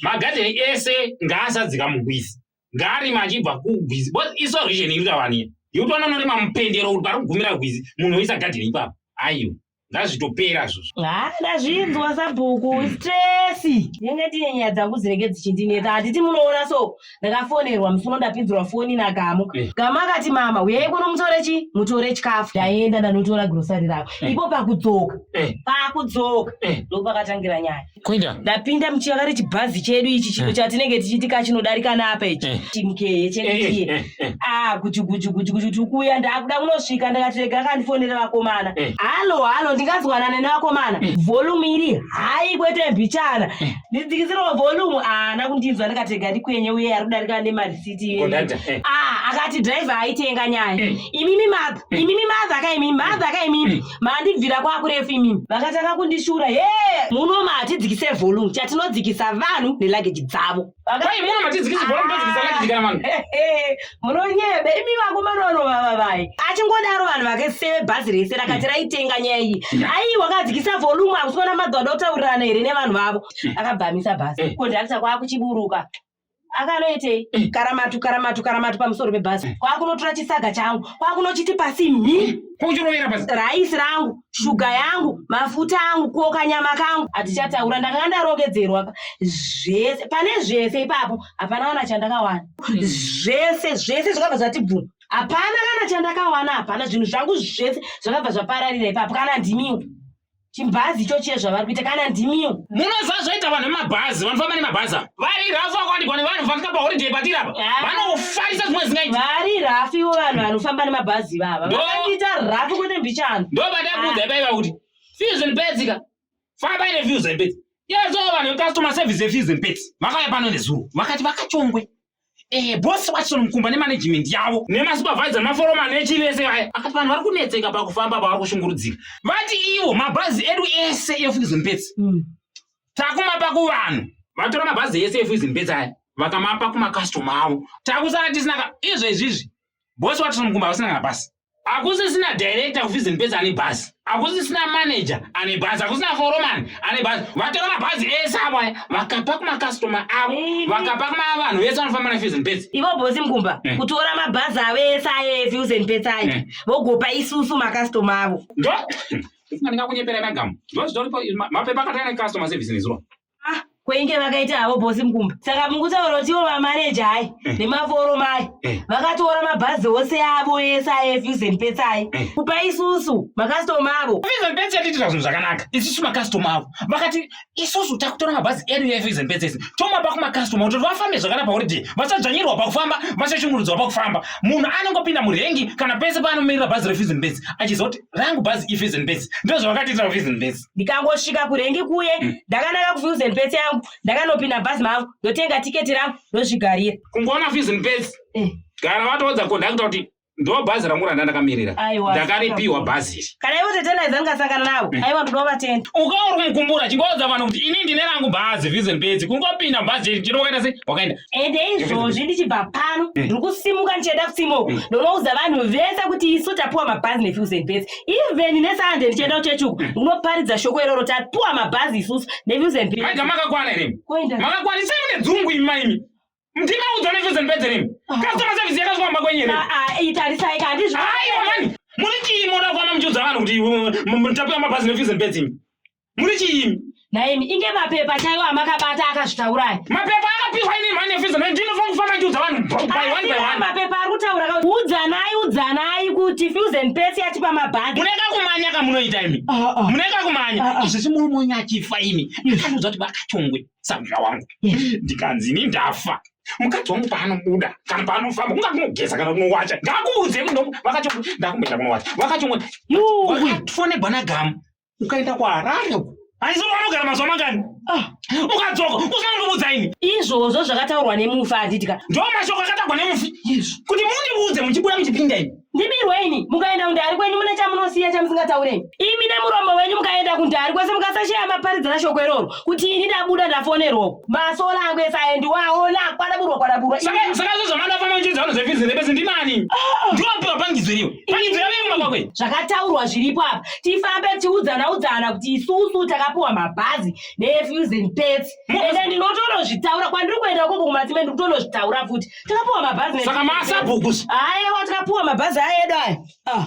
magadheni ese ngaasadzika mugwizi ngaarima achibva kugwizi bcause isorvision iri kuta vanhu yotoona unorima mupendero kuti pari kugumira gwizi munhu oisa gadheni ipapo aiwa ngazvitopera zvozvo haa ndazvinzwa sabhuku hmm. stresi ndinenge ndine nyaya dzangu dzinenge dzichindinetsa handiti munoona so ndakafonerwa musi uno ndapinzirwa foni nagamu eh. gamu akati mama uyai kuno mutore chi mutore chikafu ndaenda ndanotora grosari rako eh. ipo pakudzoka eh. pakudzoka ndopakatangira nyaya kuinda ndapinda muchiakare chibhazi chedu ichi chino eh. chatinenge tichiti ka chinodarika napa ichi eh. timkeye chekii eh, ah gujugujugujuguju tikuuya ndakuda kunosvika ndakati rega kandifonere vakomana halo halo ndingazwanane nevakomana volume iri hayi kwete mbichana ndidzikisirwa volume haana ah, kundinzwa ndikati rega ndikwenye uye ari kudarika nemarisiti ah akati driver aitenga nyaya imimi madha imimi madha ka imimi madha ka imimi Mandibvira kwakurefu imimi. Vakatanga kundishura. He! Muno matidzikise volume. Chatinodzikisa vanhu neluggage dzavo. Vakai muno matidzikise volume todzikisa ah. luggage kana vanhu. Munonyebe imi vakomana vano vava vai. Achingodaro vanhu vake seve bhazi rese rakati raitenga nyaya iyi. Ai wakadzikisa volume akusona madhodha otaurirana here nevanhu vavo. Akabvamisa bhazi. Conductor kwakuchiburuka. akanoitei eh. karamatu karamatu karamatu pamusoro pebhazi eh. kwakunotora chisaga changu kwakunochiti pasi mhi eh. kwauchirovera pasi raisi rangu shuga yangu mafuta angu kuoka nyama kangu hatichataura ndakanga ndarongedzerwa pa zvese pane zvese ipapo hapana kana chandakawana hmm. zvese zvese zvakabva zvati bvuma hapana kana chandakawana hapana zvinhu zvangu zvese zvakabva zvapararira ipapo kana ndimiwo chimbazi icho chiye zvavari kuita kana ndimiwo munoziva zvaita vanhu vemabhazi vanofamba nemabhazi ava vari rafu vakawanikwa nevanhu vafika paholiday patiri apa Ah. vanofarisa zvimwe zvingaita vari rafu ivo vanhu vanofamba nemabhazi ivava Ndo- vakaita rafu kwete mbichana ndobadakuudza ipaiva kuti fees and pets ka fambai nefees and pets yeso vanhu vecustoma service yefees and pets vakauya pano nezuro vakati vakachongwe Eh, boss wacho mukumba ne management yavo nema supervisor nema follow man echi vese vaya akati vanhu vari kunetseka pakufamba pavari kushungurudzika vati ivo mabhazi edu ese efuizo mbetsi mm. takumapa kuvanhu vatora mabhazi ese efuizo mbetsi aya vakamapa kuma customer avo takusara tisina ka izvo izvizvi boss wacho mukumba vasina kana basi hakusisina director kufizi ndipedzi ane bhazi hakusisina manager ane bhazi hakusina foroman ane bhazi vatora mabhazi ese avo aya vakapa kumakastoma avo vakapa kumavanhu vese vanofamba nefizi ndipedzi ivo bhosi mgumba eh. kutora mabhazi avo ese aya efizi ndipedzi aya eh. vogopa isusu makastoma avo ndo ndingakunyepera nagamu ndozvitoripo mapepa akatanga nekastoma service nezuro Ah, kweinge vakaita havo bosi mukumba saka mukutaura kuti ivo vamaneja hai eh. nemaforo mai eh. vakatora mabhazi ose avo ese aefuzeni petsai eh. kupa isusu makastoma avo efuzeni petsi yatiitira zvinhu zvakanaka isusu makastoma avo vakati isusu takutora mabhazi edu efuzeni petsi ese tomapa kumakastoma kuti vafambe zvakanaka pakuti vasadzvanyirwa pakufamba vasashungurudzwa pakufamba munhu anongopinda murengi kana pese paanomirira bhazi refuzeni petsi achiziva kuti rangu bhazi efuzeni petsi ndozvavakatiitira efuzeni petsi ndikangosvika kurengi kuye mm. ndakananga kufuse ndipetse yangu ndakanopinda bhazi mangu ndotenga tiketi rangu ndozvigarira kungoona fuse ndipetse eh. gara vatoodza kondakta kuti ndo bhazi rangu randa ndakamirira ndakaripiwa bhazi iri kana ivo tete ndaiza ndingasangana navo eh. aiwa ndinoda vatenda ukauri kumukumbura chingoudza vanhu kuti ini ndine rangu bhazi vision bedzi kungopinda bhazi iri chiri wakaita sei wakaenda ende izvozvi ndichibva pano eh. ndiri kusimuka ndichaenda kusimoko eh. ndonoudza vanhu vese kuti isu tapiwa mabhazi nevision bedzi even nesande ndichienda kuchechi uku unoparidza shoko iroro tapuwa mabhazi isusu nevuzembiaga makakwana here makakwana isai mune dzungu imi maimi mtima udzo nevuzembedze rimi customer service yakazi kwamba kwenyu here itarisai kandizvaiwa mani muri chii moda kuona muchiudza vanhu kuti mutapuwa mabhazi nevuzembedze imi muri chiimi nhaimi inge mapepa chaiwo amakabata akazvitaurayi mapepa akapihwa ini manefizo no ndinofa kufa machiudza vanhu by one by one mapepa ari kutaura ka udzanai udzanai kuti fusen pesi yachipa mabhagi muneka kumanya kamunoita imi ah, ah. muneka kumanya ah, izvisi murumonyi achifa imi anoudza kuti vakachongwe samuzva wangu ndikanzi ini ndafa mukadzi wangu paanobuda kana paanofamba kunga kunogeza kana kunowacha ngakuudze muno vakachongwe ndakumboenda kunowacha vakachongwe yuu fonebwa nagamu ukaenda kuharare uko hanzi vanogara mazuva mangani ah, ukadzoka usina kundiudza ini izvozvo zvakataurwa nemufi handidika ndo mashoko akatagwa nemufi kuti mundiudze muchibuda muchipinda ini ndibirwe ini mukaenda kundari kwenyu mune chamunosiya chamusingataureni imi nemuromo wenyu mukaenda kundari kwese mukasasheya maparidzira shoko iroro kuti ini ndabuda ndafonerwoko masola angu ese aendiwawo nakwadaburwa kwadaburwa saka zvozvamanafana uchidza vanhu zvefizi ndepese ndinani ah, ah. ndiwapiwa pangidzo iriwe pangidzo yave mumakwakwe zvakataurwa zviripo apa tifambe tiudzana udzana kuti isusu takapiwa mabhazi nefusion pets ende ndinotonozvitaura kwandiri kuenda koko kumatsime ndiri kutonozvitaura futi takapiwa mabhazi saka masabhuku ayewa takapiwa mabhazi ayedu aya ah.